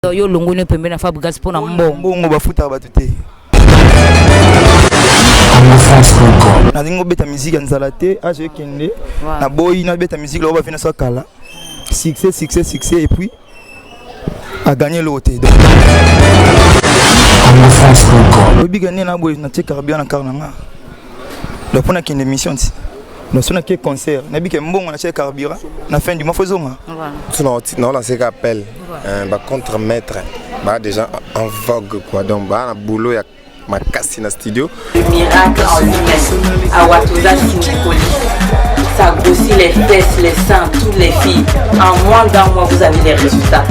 Donc yo longoni pembe na Fabregas pona mbongo. Mbongo bafutaka batu te. nalingi obeta miziki ya nzala te azo ekende naboyi nabeta miziki loko bafina so kala succès succès succès et puis aganye eloko te obika nde na boye natie carburant na kar na nga donc pona kende mission ti nasolaki concert nabike mbongo natya carburant na fin du mois fo ezonga naolanseka appel euh, bacontre maître baa déjà en vogue quoi donc baa na boulot ya makasi na studio miracle en lui-même awa toza sindikoli ça grossit les fesses les seins toutes les filles en moins d'un mois vous avez les résultats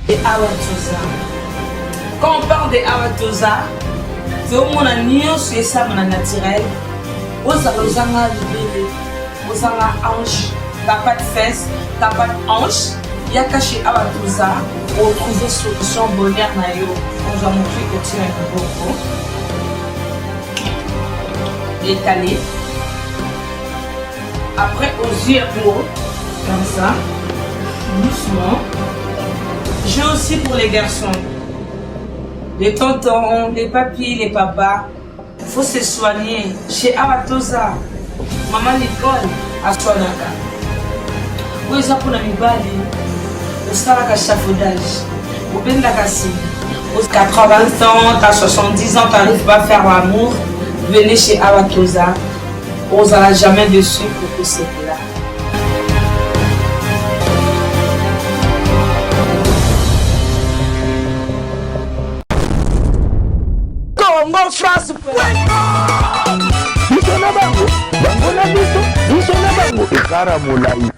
De awa toza quand on parle de awa toza tozomona nyonso esama na naturel ozala ozanga libele ozanga ange tapa de fesse tapa de ange yaka chez awa toza otrouve solution bonheur na yo ozwa mokri kotina liboko etale Après ozwi yango comme ça doucement. J'ai aussi pour les garçons les tontons, les papis, les papas. Faut se soigner chez Awatoza. Maman Nicole aswanaka. Oyo eza mpona mibali osalaka chafaudage obendaka sima 80 ans, t'as 70 ans, t'arrives pas à faire l'amour, venez chez Awatoza. Ozala jamais dessus pour que c'est là. Congo France. Biso na bango, bango na biso, biso na bango. Ekara molai.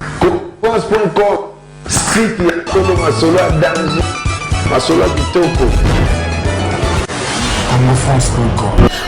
France.com Site ya solo masolo ya danger masolo ya kitoko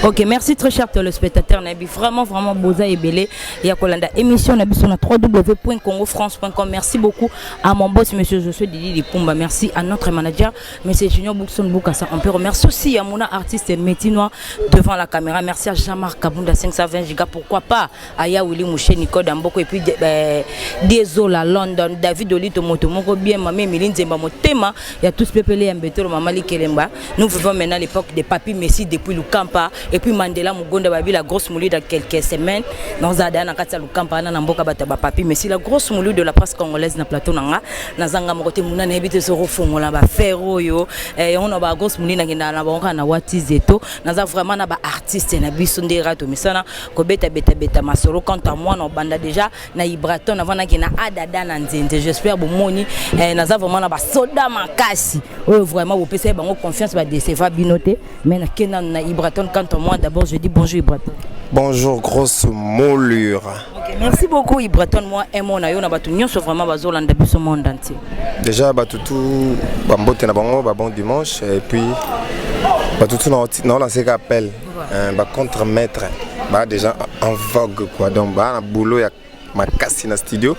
Ok, merci très cher téléspectateur Nabi. Vraiment, vraiment, Boza et Belé. Il y a Kolanda émission Nabi sur www.congofrance.com. Merci beaucoup à mon boss, monsieur Josué Didi Lipumba. Merci à notre manager, monsieur Junior Boukson Boukassa. On peut remercier aussi à mon artiste Métinois devant la caméra. Merci à Jean-Marc Kabunda 520 Giga. Pourquoi pas aya wili mushe nikoda mboko epuis eh, diezola london david olito moto moko bien mama emili nzemba motema ya tous pepele ya mbetolo mama likelemba nous vivons maintenant l'époque de papi messi depuis lukampa epuis mandela mogonda babi la grosse moulu dans quelques semaines naza daya na kati ya lukampa wana na mboka bato ya bapapi messi la grosse moulu de la presse congolaise na plateau na nga nazanga moko te muna nayebi te soki ofongola bafere oyo eh, yango na ba grosse moulu nakendaka na bango kaka na watizeto naza vraiment na baartiste na biso nde rato misana kobeta beta beta masolo quant à moi na obanda déjà na ibraton navandaki na adada na nzenze j'espère bomoni eh, naza vraiment na basoda makasi oyo vraiment bopesaki bango confiance badeceva bino te mais nakenda na ibraton quant à moi d'abord je dis bonjour ibraton bonjour grosse moulure okay, merci beaucoup ibraton moi emo na yo na bato nyonso vraiment bazolanda biso monde entier déjà bato tu bambote na bango babon dimanche et puis bato tu naolanse ka appel Euh, ba contre maître ba déjà en vogue quoi donc ba na boulot ya makasi na studio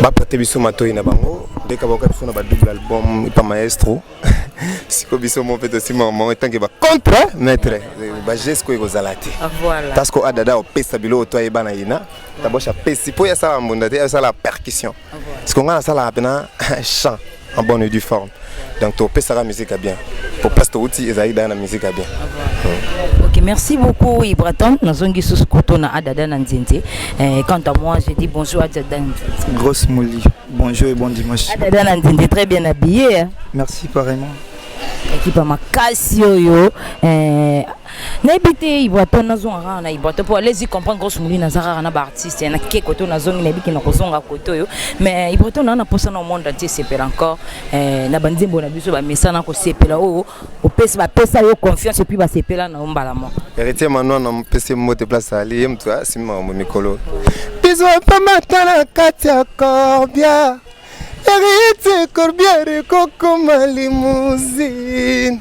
ba prête biso matoyi na bango dès ka boka biso na ba double album pa maestro siko biso mo peut aussi maman tant que ba contre hein, maître ba geste ko ekozala te ah, voilà parce que adada opesa bilo to ayeba na yina tabosha pesi po ya sala mbunda te ya sala percussion siko ngai nasalaka mpena chant en bonne et due forme donc topesaka musique ya bien po place touti ezalaki daya na musique ya bien hmm. ok merci beaucoup ibraton nazongi susu koto na adada na nzenze eh, quant à moi je dis bonjour adada grosse moli bonjour et bon dimanche adada na nzenze très bien habillé hein? merci pareillement ekipa makasi oyo eh, nayebi te ibwato nazonga kaka na ibwato mpo alezi comprendre grosse molina aza kaka na baartiste na ke kote oyo nazongi nayebi ke nakozonga kote oyo mais ibwato naa na mposa na monde antie esepela encore eh, na banzembo na biso bamesana kosepela oyo opesi bapesa yo confiance epuis basepela na yo mbala moko heritier manwa na mpesi mbote place ali ye moto asimi makambo mikolo bizo epamata na kati ya corbia heritier corbiere kokoma limousine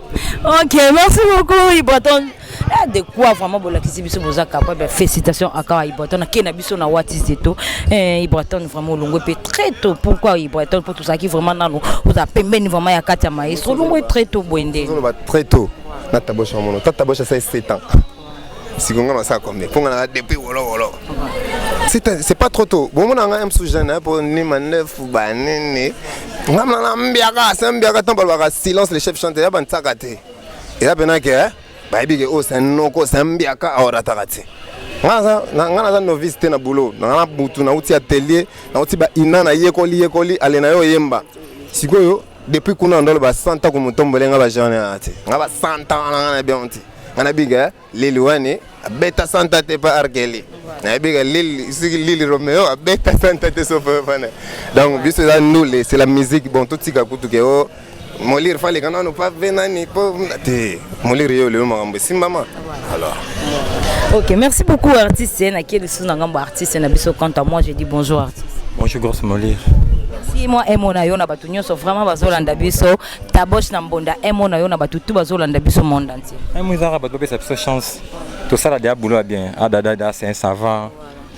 Ok, merci beaucoup Iboton. Ah, de quoi vraiment bolakisi biso boza capable ben, félicitations à Kawa Iboton qui na biso na Wati Zeto. Eh Iboton vraiment longue pe très tôt. Pourquoi Iboton pour tout ça qui vraiment nanu vous a pembeni vraiment ya Katia Maestro longue très tôt boende. Très tôt. Nata Bosch mon. Tata Bosch ça 7 ans. siko nga nasala combien mpo nga naza depuis wolowolo c'est pas trop tôt bomona nga msu jeune mpo ni mandefu banini nga mnana mbiaka se mbiaka ntango balobaka silence le chef chante ya bantsaka te eza mpena ke eh, bayebi ke oyo oh, se noko se mbiaka aorataka te nga naza novice te na boulot nga na butu nauti atelier nauti baina nayekoli yekoli ale na yo oyemba sikoyo Depuis kuna ndolo ba santa ko mutombole nga ba jane ati. Nga ba santa wana nga na bionti. Nga na biga Lili wani beta santa te pa Arkeli. Na biga Lili siki Lili Romeo a beta santa te so pa fana. Donc biso la ndule c'est la musique bon tout tika kutu ke o oh, molire fale kana no pa venani po te molire yo le makambo simbama. Alors. Ok, merci beaucoup artiste. Na qui est le ngambo artiste na biso quant à moi, je dis bonjour artiste. Bonjour Grosse Molir. Merci moi emo na yo na batu nyoso vraiment bazolanda biso taboche na mbonda emo na yo na batu tout bazolanda biso monde entier. Emo ezaka batu bapesa biso chance. Tosala dia boulot bien. Adada ah, da c'est un savant.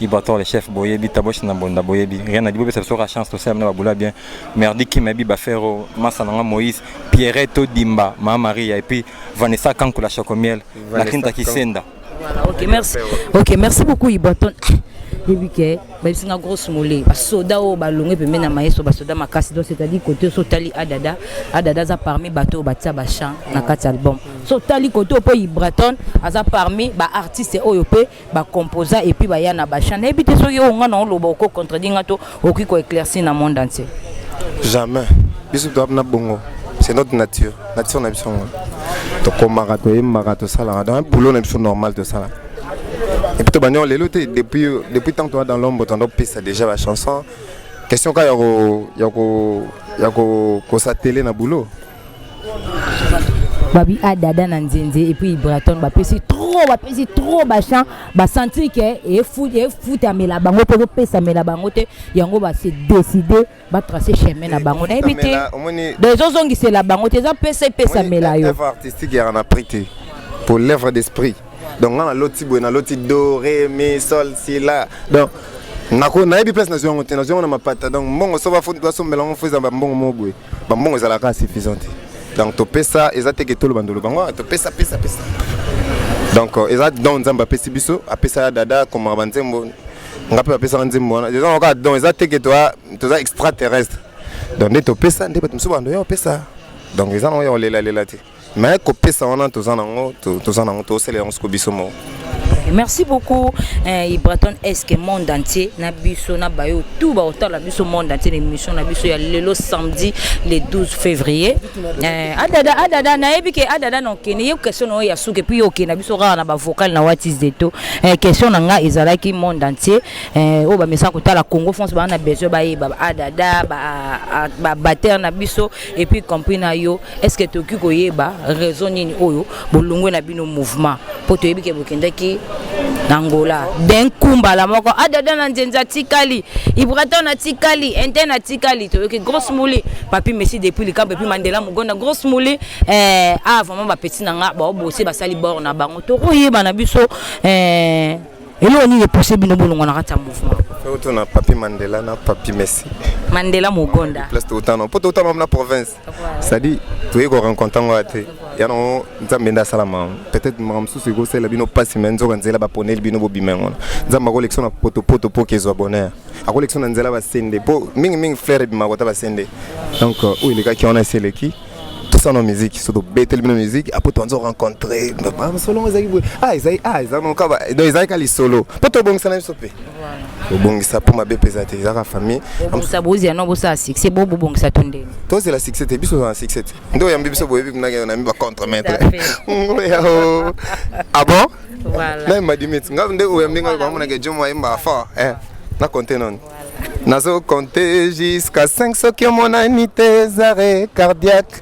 Ibator le chef boyebi taboche na mbonda boyebi. Rien na dibo besa biso chance tosala na boulot bien. Merdi Kim Abi Bafero, Massa Nanga Moïse, Pierrette Odimba, Ma Maria, et puis Vanessa Kankou la Chocomiel, la Kinta Kisenda. Voilà, ok, merci. Ok, merci beaucoup Iboton. yebi ke bayebisi nga grosse mole basoda oyo balongi pembeni na maestro basoda makasi donc c'est-à-dire kote so otali adada adada aza parmi bato oyo batia bachant na kati album so otali kote oyo mpo ibraton aza parmi baartiste oyo mpe ba composa et puis ba ya na ba chant nayebi te soki oyo nga na oloba oko contredire nga to okoki ko éclaircir na monde entier jamais biso to na bongo c'est notre nature nature na biso ngo to komaka to yembaka to salaka donc boulot na biso normal to salaka et puis to banyo lelo te depuis depuis tant toi dans l'ombre tando pesa déjà la chanson question ka ya ko ya ko ya ko ko satele na boulot babi a ah, dada na nzenze et puis braton bapesi trop bapesi trop bachan basentir ke efutamela bango mpe ekopesamela bango te yango base décide batrace chemin na bango nayebi te do ezozongisela bango te eza mpesa epesamela yo artistique yaka na prix te pour l'œuvre d'esprit donc nga naloti boye naloti do re mi sol si la donc nako nayebi place nazwi yango te nazwi yango na mapata donc mbongo so basombela yango fo eza bambongo moko boye Ba mbongo ezalaka suffisant te. Donc topesa eza te ke toloba ndolo bango ah, topesa pesa pesa. Donc euh, eza don Nzambe apesi biso, apesa ya dada koma ba nzembo. Nga pe bapesa nga nzembo wana. Eza kaka don eza te ke toza toza extraterrestre. Donc nde topesa nde bato mosusu bando ya opesa. Donc eza nango ya kolela lela te. mais kopesa wana toza nango toza nango tosala yango siko biso moko merci beaucoup eh, ibraton eske monde entier na biso na bayo tout baotala biso monde entier na émission na biso ya lelo samedi le 12 février eh, adada adada nayebi ke adada na okende ye question na oyo ya suka epuis okende na biso kaka na bavocal na watis de to eh, question na ngai ezalaki monde entier eh, oyo bamesaka kotala congo france baa na besoin bayeba adada babatere na biso epuis compris na yo est ce que tokoki koyeba raison nini oyo bolongwe na bino mouvement mpo toyebi ke bokendaki na ngola d'un coup mbala moko adada ah, na nzenza atikali ibraton atikali interne atikali toyoki grosse mouli papi messi depuis likambo epuis mandela mogonda grosse mouli eh, ah vraiment bapeti na nga baobosi basali bord na bango tokoyeba na biso eh, eloko nini epose bino bolongwa na kati ya mouvement oto na papi mandela na papi messi mandela mogonda place toutana mpo toutana na province sadi toyei korencontre yango ya te yango nzambe nde asalama peut-être makambo mosusu ekosalela bino mpasi me nzoka nzela baponeli bino bobima yango wana nzambe akolekisa na potopoto mpo kezwa bonheur akolekisa na nzela basende mpo mingimingi flaire ebimaka kota basende donc euh, oyo elekaki wana esi eleki tosana miziki so tobeteli bino miziki apo toanza orencontre masolo yango ezalaki boye ah ezalaki ah ezalaki kaka lisolo mpo tobongisana biso mpe obongisa mpo mabe mpeza te ezaka famille obongisa bozela no bosala succès bo bobongisa to ndenge tozela succès te biso tozala succès te nde oyambi biso boyebi kunakende na mi bacontre maître ngoya o ah bon naye madimit nga nde oyambi ngai koamonaka jomo ayemba fort eh, na compte noni nazo compte jusqu'à 5 soki omonani te zare cardiaque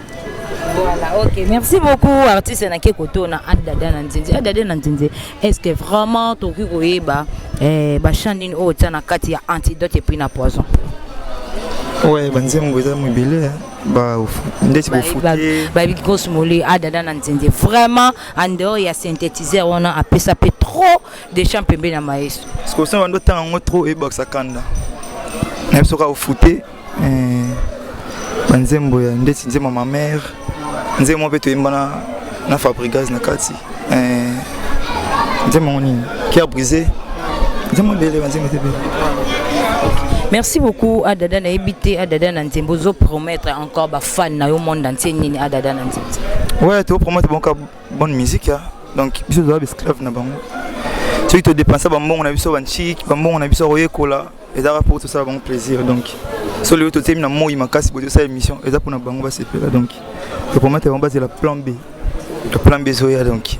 Voilà, ok. Merci beaucoup, artiste Nake Koto, na Adada Nanzinzi. Adada Nanzinzi, est-ce que vraiment Toki Koyeba, eh, Bachandine O, Tana Kati, antidote et puis na poison? Ouais, Banzembo, ils ont mobilé, hein. Bah, ndeti bah, bofute. Bah, bah, bah, grosse molly, Adada Nanzinzi. Vraiment, en dehors, il y a synthétiseur, on a appelé ça trop de chants pembe na maestro. Ce qu'on sait, on doit tant trop et box à Kanda. Même si on a fouté, eh, banzembo ya ndeti nzembo ya mamare nzembo moko mpe toyemba na, na fabrigas na kati eh, nzembo yango nini cœur brisé nzembo ebele banzembo ete ebele merci beaucoup adada nayebi te adada na nzembo ozo promettre encore bafan na yo monde entier nini adada na nzembo ouais topromettre bonka bonne musique ya donc biso toza baesclave na bango soki todepensa bambongo na biso banchiki bambongo na biso koyekola ezalaka mpo tosala bango plaisir donc so lelo totiemi na moi makasi boye tosala émission eza mpona bango basepela donc topromete bango bazela plan b to plan b ezoya donc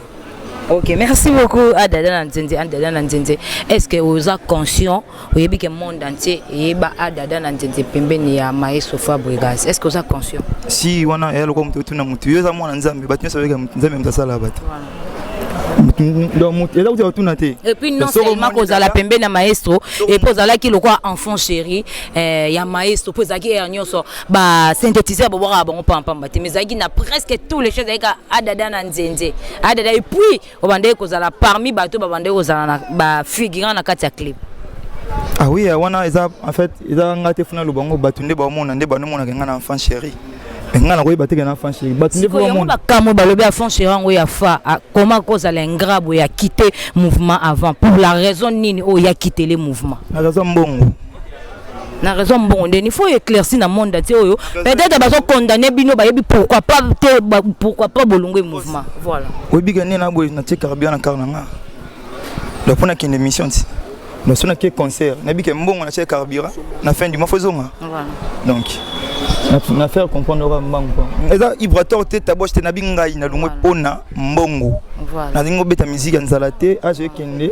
ok merci beaucoup adada na nzenze adada na nzenze est ce que oza conscient oyebi ke monde entier eyeba adada na nzenze pembeni ya maestro fabrigas est ce que oza conscient si wana eya lokola moto otuna motu yo eza mwana nzambe bato nyonso bayeka nzambe moto asala bato epuis non seulement kozala pembe na maestro epuis ozalaki lokola enfant chéri eh, ya maestro mpo ezalaki ere nyonso basynthétiseur bobwakaka bango pampamba te mais ezalaki na presque tous les choses ezalaki adada na nzenze adada epuis obandaki kozala parmi bato babandaki kozala na bafigurant na kati ya clip ah oui eh, wana eza en fait eza nga te funa lobango bato nde baomona nde banomonaka nga na enfant chéri mais ngai nakoyeba te ke na fan chéri bato nde yango bakamwe balobi ya fan chéri yango ya fa ah, koma kozala ingrat boye akite mouvement avant pour la raison nini oyo ya kitele mouvement na raison mbongo na raison mbongo nde il faut éclairci na monde ati oyo peut-être bazokondamne bino bayebi pourquoi pas te pourquoi pas bolongwe mouvement voilà oyebika nde na boye natie carburant na kar na ngai donc pona kende mission ti donc sona ke concert na bike mbongo na chez carburant na fin du mois faut zonga donc na faire comprendre oka mbangu po eza ibrator te taboche te nabi ngai na lungwe pona mbongo nalingi obeta musique ya nzala te azo ekende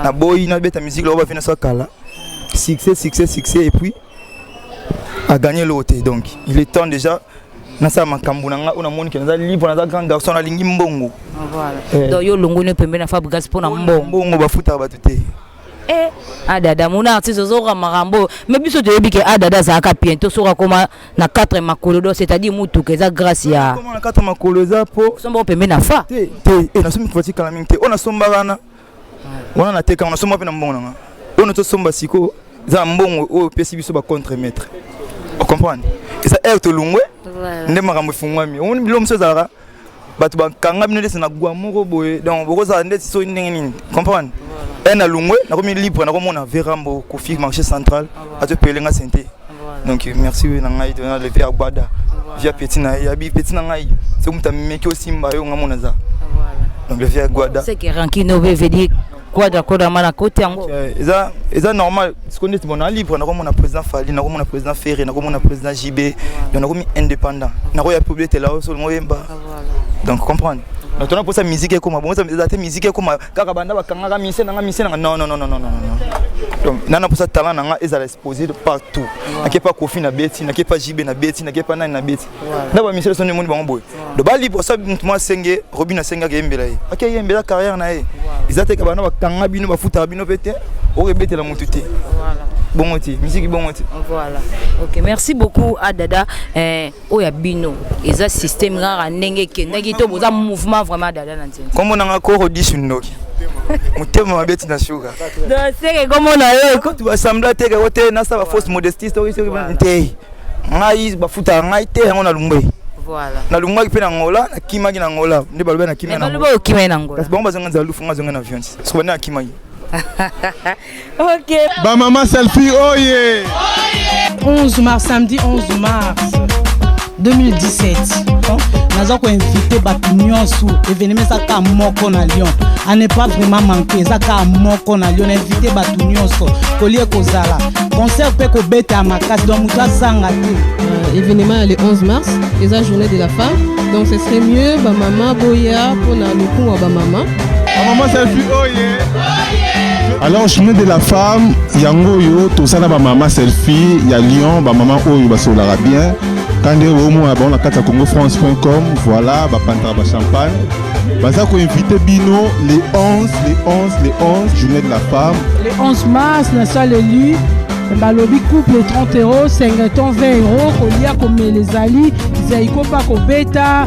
naboyi nabeta musique lokola bafina so kala succès succès succès et puis a gagné l'autre donc il est temps déjà nasala makambo na ngai oyo namoni ke naza libre naza grand garçon nalingi mbongo ah, eh. donc yo olongoni pembe na fabrigas mpo na mbongo mbongo bafutaka bato te eh, adada ah, mona artiste ozoka makambo oyo me biso toyebi ke adada ah, azalaka bien to soki akoma na 4 makolo do c'est-à-dire motuka eza grâce ya na 4 makolo eza mpo sombaka pembe na fa te te eh, nasomi voiture kala mingi te oyo nasombaka na wana na teka wana soma mpe na mbongo na nga oyo na tosomba siko eza na mbongo oyo opesi biso ba contre maître ocomprendre eza heure tolungwe nde makambo efungwami omoni biloko mosusu ezalaka bato bakanga bino ndesi na gwa moko boye donc bokozala ndeti soki ndenge nini comprendre un alungwe nakomi libre nakomona verambo kofi marché central azo pele nga sente donc merci na ngai to na lever agbada via petit na ya bi petit na ngai c'est comme ta meki osimba yo nga mona za donc lever agbada c'est que rankine veut dire quoi d'accord na mana kote yango eza eza normal sikoyo ndeti bona libre nakomona président fali nakomona président ferre nakomona président jb donc nakomi indépendant nakoya publietela yo solo moyemba donc comprendre donc tona mposa musique ekoma bongo eza te musique ekoma kaka banda bakangaka mise nanga mise nanga non non non non non donc nana posa talent nanga ezala exposé de partout nake pa kofi na beti nake pa jibe na beti nake pa nani na beti na ba mise sonne moni bango boye do bali posa mutu mwa senge robina senge akeyembela ye akeyembela carrière na ye eza te kabana bakanga bino bafutaka bino mpe te okebetela mutu te bongo te miziki bongo te voilà ok merci beaucoup adada eh, oyo ya bino eza système rara ndenge ekendaki to boza mouvement vraiment dada na nzela kombo nanga koro disu ndoki motema mabe tina suka seke komona yo kutu basambla te kako te nasa bafausse modestie soki soki te ngai bafutaka ngai te yango nalungwe nalungaki mpe na ngola nakimaki na ngola nde balobi nakimaki na ngola kasi bango bazonga nzala lufu ngai azonga na viance soki bande nakimaki Ok. Ba maman selfie oye. 11 mars samedi 11 mars 2017 naza koinvite bato nyonso evenema eza kaka moko na lyon a ne pas vraiment manke eza kaka moko na lyon nainvite bato nyonso kolie kozala concert mpe kobeta ya makasi donc moto azanga te euh, evenema ya le 11 mars eza journée de la femme donc ce serait mieux bamama boya mpona lokumu ya bamama Maman selfie oye. Alors chemin de la femme yango yo tosala ba maman selfie ya Lyon ba maman oyo basolaka bien kande omona bango na kati ya congofrance.com voilà bapantaka ba champagne baza koinvite bino le 11 le 11 le 11 journée de la femme le 11 mars na saleli balobi couple 30 euro 50 20 euro kolia komela ezali zaiko mpa kobeta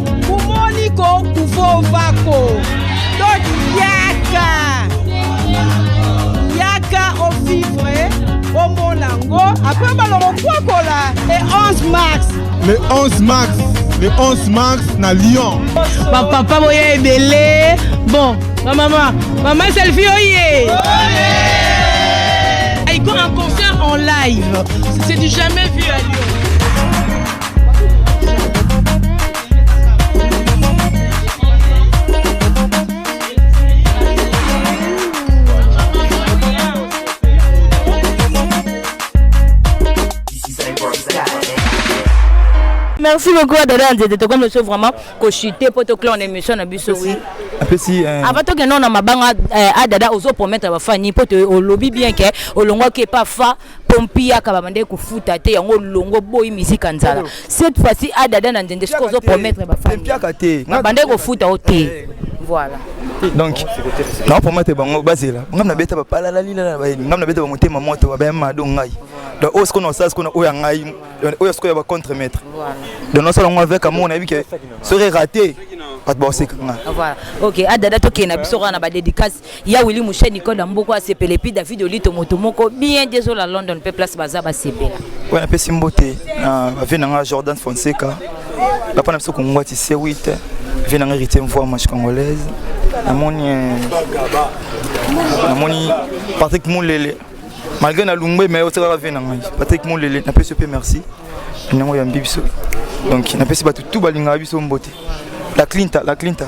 kumoniko kuvovako toyaka yaka ovivre omona ngo apres baloko kwakola le 11 mars le 11 mars le 11 mars na lyon bapapa boya ebele bon bamama mama selfi oye aiko un concert en live c'est du jamais vu à lyon merci beaucoup à dada nzete tokomi biso vraiment kochute mpo toclone émission na biso wi apesi euh, avant tokende na mabanga euh, a dada ozopromettre bafani mpo olobi bien ke olongwaki epa fa pompiyaka babandaki kofuta te yango longo boyi mizika nzala cette fois-ci adada na nzende soki ozo promettre bafandibabandaki kofuta o te eh, eh. voilà donc na promettre bango bazela ngam na beta bapalalalila ngam na beta bamotema moto babayamado ngai donc oyo sikoyo nasala sikoyo oyo ya ngai oyo sikoyo ya bacontre maître donc nasala yango avec amour nayebi ke soki erate bato bakoseka ngai ok adada tokende na biso kaka na badédicace ya Willy Mouche Nicole ya mboko asepele puis David Olito moto moko bien désolé à London pe place baza basepela oyo napesi mbote na bavie na ngai Jordan Fonseca papa na biso kongwati C8 vie na ngai héritier mvoi manche congolaise namoni eh, namoni Patrick Moulele malgré na lungbe mais osekaka vie na ngai Patrick Moulele napesi yo mpe merci yango yambi biso donc napesi bato tu balingaka biso mbote la clinta la clinta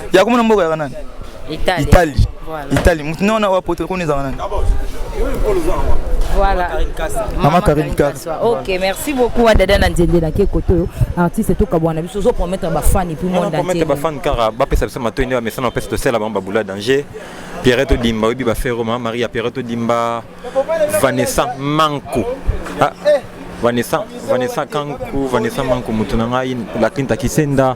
ya komona mboka yaka nani itali itali itali mutu nona wa poto koni ezaka nani Voilà. Maman Karine Kass. Ok, merci beaucoup à Dada Nandiende na Kekoto. Artiste tout kabwana biso zo promettre ba fans et puis monde entier. Promettre ba fans car ba pesa biso mato ndio amesana pesa to sela ba boula danger. Pierrette Dimba, Obi Bafero, Maria Pierrette Dimba, Vanessa Manko. Ah. Vanessa, Vanessa Kanku, Vanessa Manku Mutunangai, la Kinta Kisenda.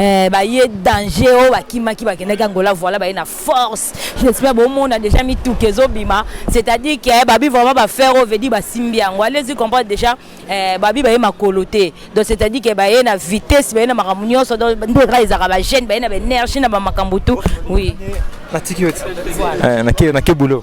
Eh, baye danger oyo bakimaki bakendaki angola voilà baye na force j'espère bomona déjà mituka ezobima c'est-à-dire que eh, babi vraiment bafere oyo vedi basimbi yango allez-y comprendre déjà eh, babi baye makolo te donc c'est-à-dire que baye na vitesse baye na makambo nyonso donc nde kaka ezalaka bagene baye na baénergie na bamakambo tout oui natiki yo ti nakei boulot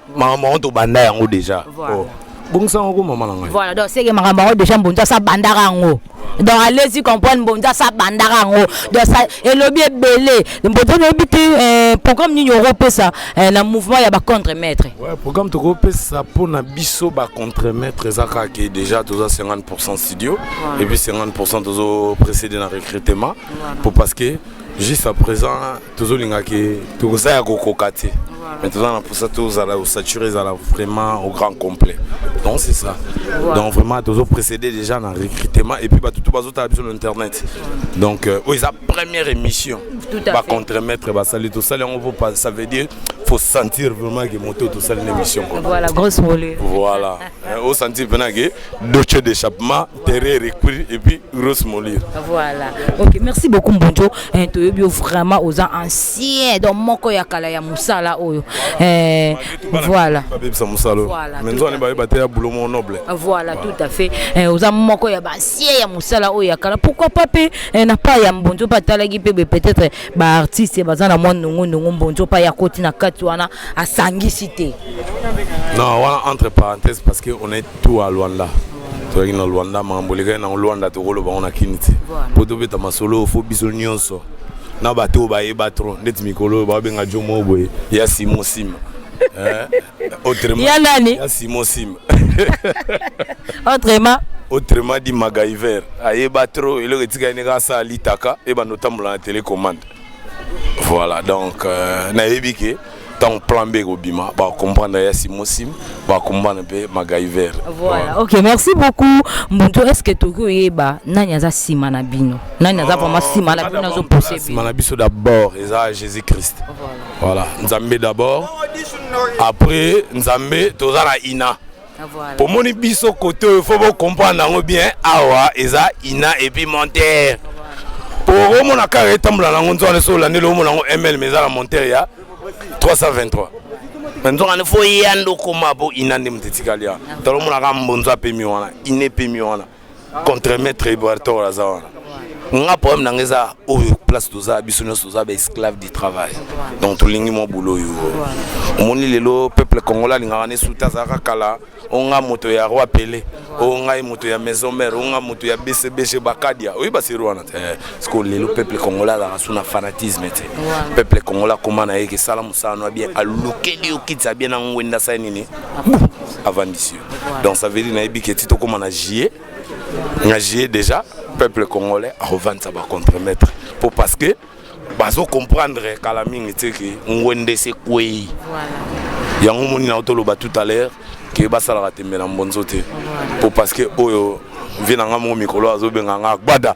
maman maman to banda yango déjà voilà. oh. bongisa yango maman na ngai voilà donc seke makambo yango déjà mbonza sa bandaka yango donc allez-y comprendre mbonza sa bandaka yango donc sa elobi ebele mbonza nayebi te euh, programme nini okopesa euh, na mouvement ya bacontre maître ouais, programme tokopesa mpo na biso bacontre maître eza kaka ke déjà toza 50 pourcent studio ouais. et puis 50 pourcent tozo précédé na recrutement ouais. mpo parce que juste à présent tozolinga ke toza ya kokoka te mais toza na mposa tozala osature ezala vraiment au grand complet donc c'est ça donc vraiment tozo précédé déjà na recrutement et puis bato to bazotala biso na internet donc euh, oyo eza première émission bacontremaître basali tosali yango mpo ça veut dire faut sentir vraiment que moto tosali na émission voilà grosse volée voilà osentir mpena ke doce d'échappement Terre Recuir et puis Rose Molir. Voilà. Ok, merci beaucoup Mbonjo. Eh, tu es vraiment aux anciens donc moko ya kala ya musala oyo. Eh, voilà. Voilà. Mais nous on est ba ba ya boulot mon noble. Voilà, tout à fait. Eh, aux moko ya ba anciens ya musala oyo ya kala. Pourquoi pas pe eh, na pas ya Mbonjo pa talaki pe peut-être ba artistes ba za na mwa nungu nungu Mbonjo pa ya koti na kati wana asangisi te. Non, voilà entre parenthèses parce que on est Tout à Luanda. Tozalaki na Luanda, makambo elekaki na Luanda tokoloba yango na Kin te. Mpo tobeta masolo oyo, fo biso nyonso na bato oyo bayeba trop ndeti mikolo oyo babenga jo moko boye ya Simon Sima. Eh, autrement, Ya nani? Ya Simon Sima. Autrement. Autrement dit MacGyver. Ayeba trop eloko etikali ne kaka asala litaka ebanda otambola na telecommande. Voilà donc euh, nayebi ke ntango plan b ekobima bakomprendre ya simosim bakomprendre mpe magaiver voilà ok merci beaucoup mbuntu est ce que toki oyeba nani aza nsima na bino nani aza vraiment nsima na bino azopose nsima na biso d'abord eza jésus christ voilà nzambe d'abord après nzambe toza na ina omoni biso kote oyo fo bocomprendre yango bien awa eza ina epuis montere po omona kaka etambola nango nzoka nde so olandeli omona yango ml ma eza na montere ya 323 me nzoka nde fo eya nde okoma po ina nde moto etikali awa tolomonaka mbonzo apemi wana ina epemi wana contre maître Iboartor aza wana nga problème na nga eza oyo place toza biso nyonso toza ba esclave du travail donc tolingi mwa boulot oyo omoni lelo peuple congolais alingaka ne suta azalaka kala o nga moto ya roi pele o ngai moto ya maison mère o nga moto ya bcbg bakadia oyebi baseri wana te eh, sikoyo lelo peuple congolais azalaka su na fanatisme te peuple congolais akoma na ye kesala mosala no ya bien alukeli yo kitisa bien na ngwenda sai nini avandisi yo donc ça veut dire nayebi ke ti tokóma na juillet na juillet déjà peuple congolais akovanisa bacontremaître mpo parce que bazo comprendre kala mingi te ke ngwende sekwei yango omoni na otoloba tout à l'heure ke basalaka tembe na mbonzo te mpo parce que oyo vie na ngai moko mikolo azobenga ngai agbada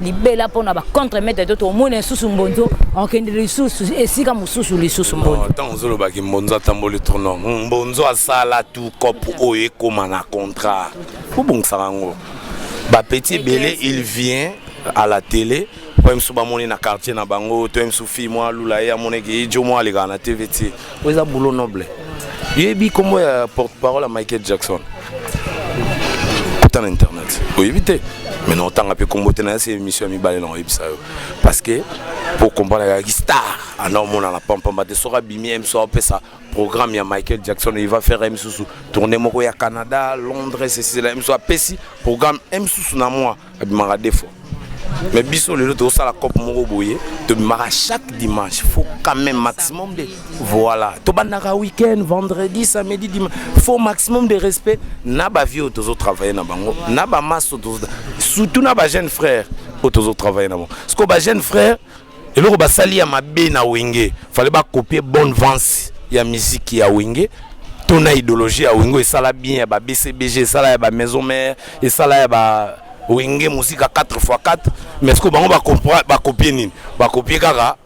libela mpo na bacontre maitre to tomona lisusu mbonzo okende lisusu esika mosusu lisusu mbonzo ntango ozolobaki mbonzo atamboli tourno hmm, mbonzo asala tu cope oyo ekóma na contrat obongisaka yango bapeti ebele il vient à la télé oyo mosusu bamoni na quartier na bango to ye mosusu fille mwa alula ye amonaki ye jo mwa alekaka na tv ti oyo eza boulot noble yebi nkombo ya porte parole ya michael jackson kota na internet oyebi te mais na otanga mpe nkombo te na yasi émission ya mibale na oyebisa yo parce que mpo okomprana kaki star ana omonana pampamba te soki abimi ye mosu apesa programme ya michael jackson il va faire ye mosusu tourne moko ya canada londres ceci la ye mosusu apesi programme ye mosusu na moi abimaka defo mais biso lelo tozosala cope moko boye tobimaka chaque dimanche faut quand même maximum de voilà tobandaka week-end vendredi samedi dimanche faut maximum de respect na bavie oyo tozotravaille na bango na bamaso surtout na bajeune frère oyo tozotravaille na bango parce que bajeune frère eloko basali ya mabe na wenge fale bakopie bonne vance ya miziki ya wenge to na idéologie ya wenge esala bien ya ba bcbg esala ya ba maison mare esala ya ba wenge mosika 4 x 4 mais siko bango bakopie nini bakopie kaka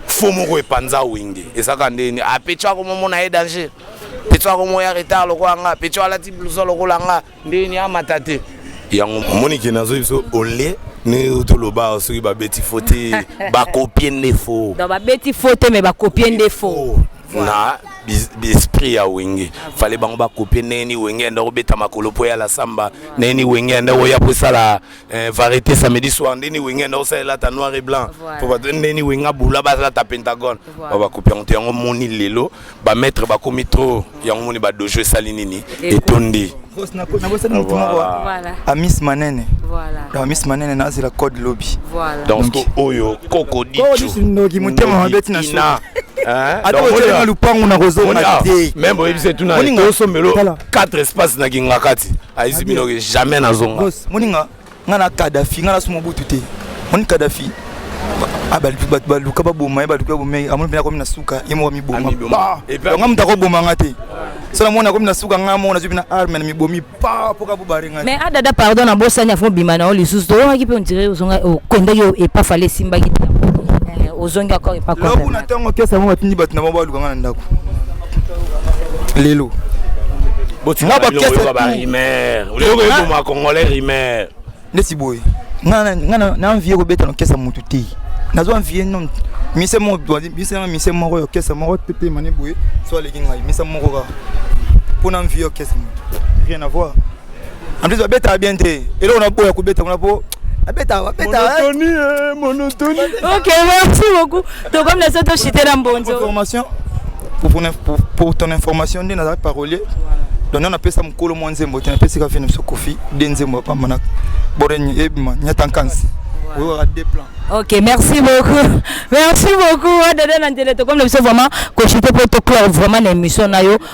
fo moko epanza wenge ezaka ndeni apeco ah, akomomona ye danger peco akomoya ah, retard lokola nga peco alati blouson lokola nga ndeni amata te yango omoni ke nazoyi biso olie ne toloba soki babeti fo te bakopie nde fo babeti fo te me bakopie nde fo na esprit ya wenge fale bango bakopie ndenge ni wenge anda kobeta makolo mpo ya la samba ndenge ni wenge anda koya mpo esala Eh, variété samedi soir ndeni wenge enda osalela ta noir et blanc po bato ndeni wenge abula basala ta pentagone ba bakopi yango te yango moni lelo bamaître bakomi trop yango moni badojo esali nini etondi nabosani motu moko amis manene donc amis manene nazela code lobi donc oyo koko dicodoki motema mabe tina ata otelema lupangu nakozonga te meme boyebisa etuna tosombelo 4 espace na kingakati ayizi bino ke jamais nazonga bos moninga nga na kadafi nga nasu mobutu te moni kadafi ah, baluka baboma ye baluka baboma ye amoni mpena akomi na suka ye moko amiboma nga moto akoboma nga te so namoni akomi na suka nga moko nazwi mpena arme na mibomi pa mpo kabobare nga mais adada ah, pardon nabosani afo obima na yo lisusu toyokaki mpe ondire ozonga okendaki oh, epa fale esimbaki te eh, ozongi akor epa loku na ntango kesa yango batindi bato na bango baluka nga na ndako lelo na bakesaoyokoboma congolais rimer neti boye nga na envie kobeta nokesa motu te nazwa envie no mise moko mise moko ya kesa moko tetemane boye so aleki ngai mise moko kaka mpo na envie ya kesa motu rien avoir en plus babetaka bien te eloko na boya kobeta kuna po abeta abeta monotoni eh, monotoni ok merci beaucoup tokomi na so toshite na mbonzo formation pour, pour, pour ton information nde nazalaki parolier donc nana apesa mokolo mwa nzembo te napesi kaka fini biso kofi de nzembo apamba na boreni ebima nyata nkansi oyokaka de plan ok merci beaucoup merci beaucoup adada na ndele tokomi na biso vraiment koshite mpo toclore vraiment na émission na yo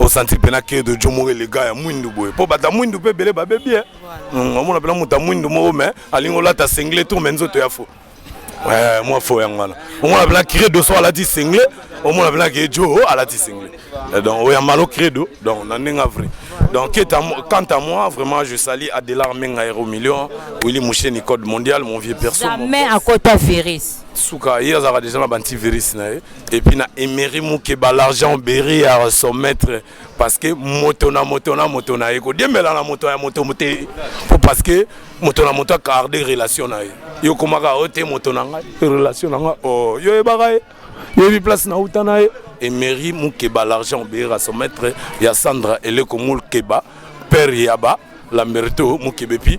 osanti mpena ke de jo moko elega ya mwindu boye mpo bato ya mwindu mpe ebele babebi e mm, omona mpena moto ya mwindu moko me alingi olata sengle tour me nzoto ya fo eh, mwa fo yango wana omona mpena credo so alati sengle omona mpena ke jo oh, alati sengle eh, donc oyo ya malo credo donc na ndenge ya vrai Donc, quant à moi, vraiment, je salue Adélar Menga Hero Million, Willy Mouché, Nicode Mondial, mon vieux perso. Jamais à côté virus. Souka, il y a déjà un petit virus. et puis na emery mukeba l'argent oberi ya son maître parce que moto na moto na moto na ye kodiembela na moto ya moto te po parce que moto na moto acarde relation na ye yo okomaka oyo te moto na ngai relation na ngai o oh, yo oyebaka ye yebi place nauta na ye emery mukeba l'argent oberi ya son maître ya sandra eleko mukeba père yaba lamberto mukeba epi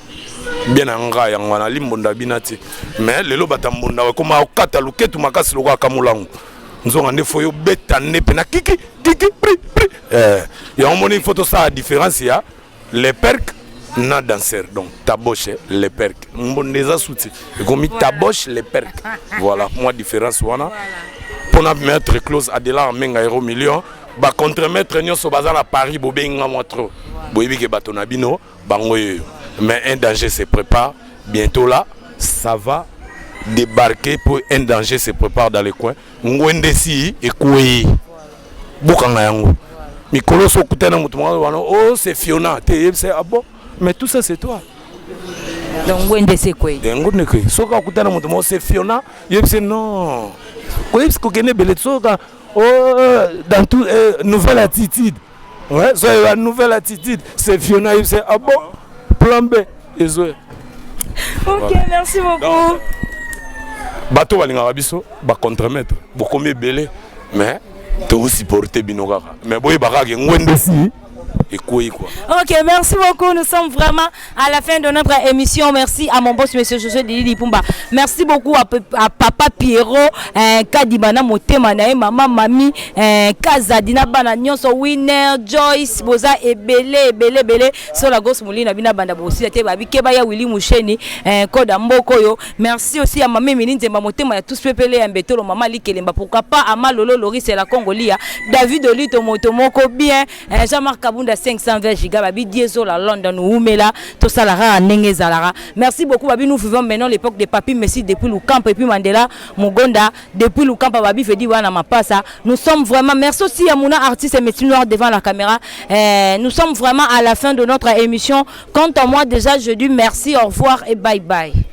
bien na nga yango wana limbonda bina te mais lelo batambonda ekoma okata luketu makasi lokola kamulangu nzonga nde fo yo beta nde mpe na kiki kiki pri pri eh, yango moni fo tosala différence ya le perque na danser donc taboche le perque mbonda eza suti ekomi taboche le perque voilà mwa différence wana mpona maître close adela amenga euro million bacontremaître nyonso baza na paris bobengi nga mwa trop boyebi ke bato na bino bango yeyo mais un danger se prépare bientôt là ça va débarquer pour un danger se prépare dans le coin ngwende esi ekwei bokanga yango mikolo so okutana moto moko wana oh c'est fiona te yebisa ah bon mais tout ça c'est toi donc ngwende esi ekwei eh, ngwende ekwei soki akutana moto moko c'est fiona yebisa non koyebisa kokende ebele soka oh, dans tout eh, nouvelle attitude Ouais, so la nouvelle attitude, c'est Fiona Yves, c'est ah bon, plan B, et zo. Ok, voilà. merci beaucoup. Donc, bato balingaka biso ba contremaître bokomi ebele mais tosupporte bino kaka mais boyebaka ke ngwende si ekwei quoi ok merci beaucoup nous sommes vraiment À la fin de notre émission, merci à mon boss, monsieur Josué Didi Lipumba. Merci beaucoup à, à papa Pierrot, euh, Kadibana Motema, Nae, maman, mamie, euh, Kaza, Dina Bana, Nyonso, Winner, Joyce, Boza, Ebele, Ebele, Ebele, Sola Gos Moulina, Bina Banda Bossi, Ate Babi, Kebaya, Willy Moucheni, euh, Koda Mboko, yo. Merci aussi à Mamie Mini Nzemba Motema, ya tous pepele, ya Mbetolo, Mama Likelemba, pourquoi pas à Malolo, Loris, et la Congolia, David Olito, Motomoko, bien, eh, Jean-Marc Kabunda 520 giga babi diesola London wumela tosala kaka ndenge ezalaka merci beaucoup babi nous vivons maintenant l'époque de Papi Messi depuis Lukampa et puis Mandela Mugonda depuis Lukampa babi Fedi wana mapasa nous sommes vraiment merci aussi ya Mouna artiste et métier noir devant la caméra eh, nous sommes vraiment à la fin de notre émission quant à moi déjà je dis merci au revoir et bye bye